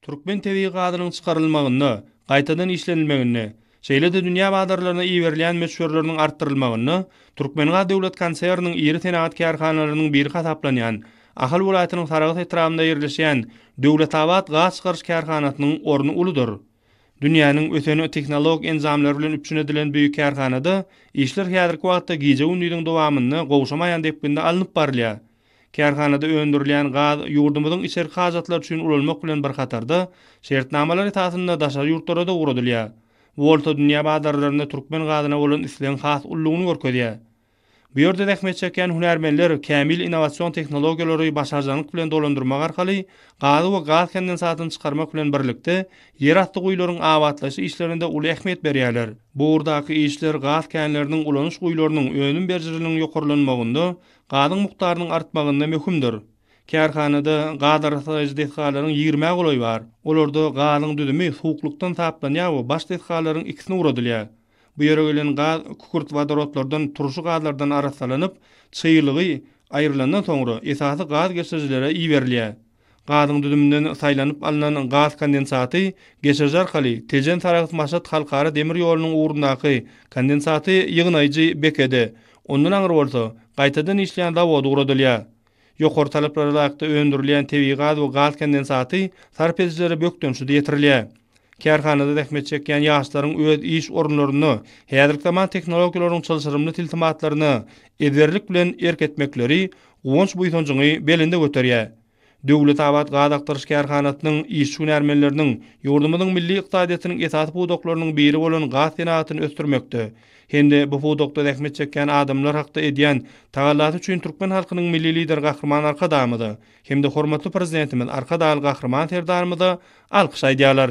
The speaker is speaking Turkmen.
Türkmen tebigy gazynyň çykarylmagynda, gaýtadan işlenilmeginde, şeýle-de dünýä bazarlaryna iberilýän möçberleriniň artdyrylmagynda Türkmengaz döwlet konserniniň iri senagat kärhanalarynyň biri hasaplanýan Ahal welaýatynyň Sarahs etrabynda ýerleşýän Döwletabat gaz çykaryş kärhanasynyň orny uludyr. Dünýäniň ösen tehnologik enjamlary bilen üpjün edilen bu kärhanada işler häzirki wagtda gije-gündiziň dowamynda gowşamaýan depginde alnyp barylýar. Kärhanada öndürilýän gaz ýurdumyzyň içerki hajatlary üçin ulanmak bilen bir hatarda, şertnamalar esasynda daşary ýurtlara-da ugradylýar. Bu bolsa dünýä bazarlarynda türkmen gazyna bolan islegiň has ululygyny görkezýär. Bu ýerde zähmet çekýän hünärmenler kämil innowasion tehnologiýalary başarjaňlyk bilen dolandyrmak arkaly gazy we gaz kondensatyny çykarmak bilen birlikde, ýerasty guýularyň abatlaýyş işlerine-de uly ähmiýet berýärler. Bu ugurdaky işler gaz känleriniň, ulanyş guýularynyň önüm berijiliniň ýokarlanmagynda, Gazyň mukdarynyň artmagynda möhümdir. Kärhanada gaz arassalaýjy desgalaryň ýigrimä golaýy bar. Olarda gazyň düzümi suwuklykdan saplanýar we baş desgalaryň ikisine ugradylýar. Bu ýere gelen gaz kükürt wodorodlardan turşy gazlardan arassalanyp, çyglygy aýrylandan soňra, esasy gaz geçirijilere iberilýär. Gazyň düzüminden saýlanyp alnan gaz kondensaty geçiriji arkaly Tejen-Saragt-Maşat halkara demir ýolunyň ugrundaky kondensaty ýygnaýjy bekede, ondan aňry bolsa, gaýtadan işleýän zawoda ugradylýar. Ýokary talaplara laýykda öndürilýän tebigy gaz we gaz kondensaty sarp edijilere bökdençsiz ýetirilýär. Kärhanada zähmet çekýän ýaşlaryň öz iş orunlarynda häzirki zaman tehnologiýalaryň çylşyrymly tilsimatlaryna ezberlik bilen erk etmekleri guwanç-buýsanjyňy belende göterýär. Döwletabat gaz agtaryş kärhanasynyň işçi-hünärmenleriniň ýurdumyzyň milli ykdysadyýetiniň esasy pudaklarynyň biri bolan gaz senagatyny ösdürmekde hem-de bu pudakda zähmet çekýän adamlar hakda edýän tagallasy üçin türkmen halkynyň Milli Lideri Gahryman Arkadagymyza hem-de hormatly Prezidentimiz Arkadagly Gahryman Serdarymyza alkyş aýdýarlar.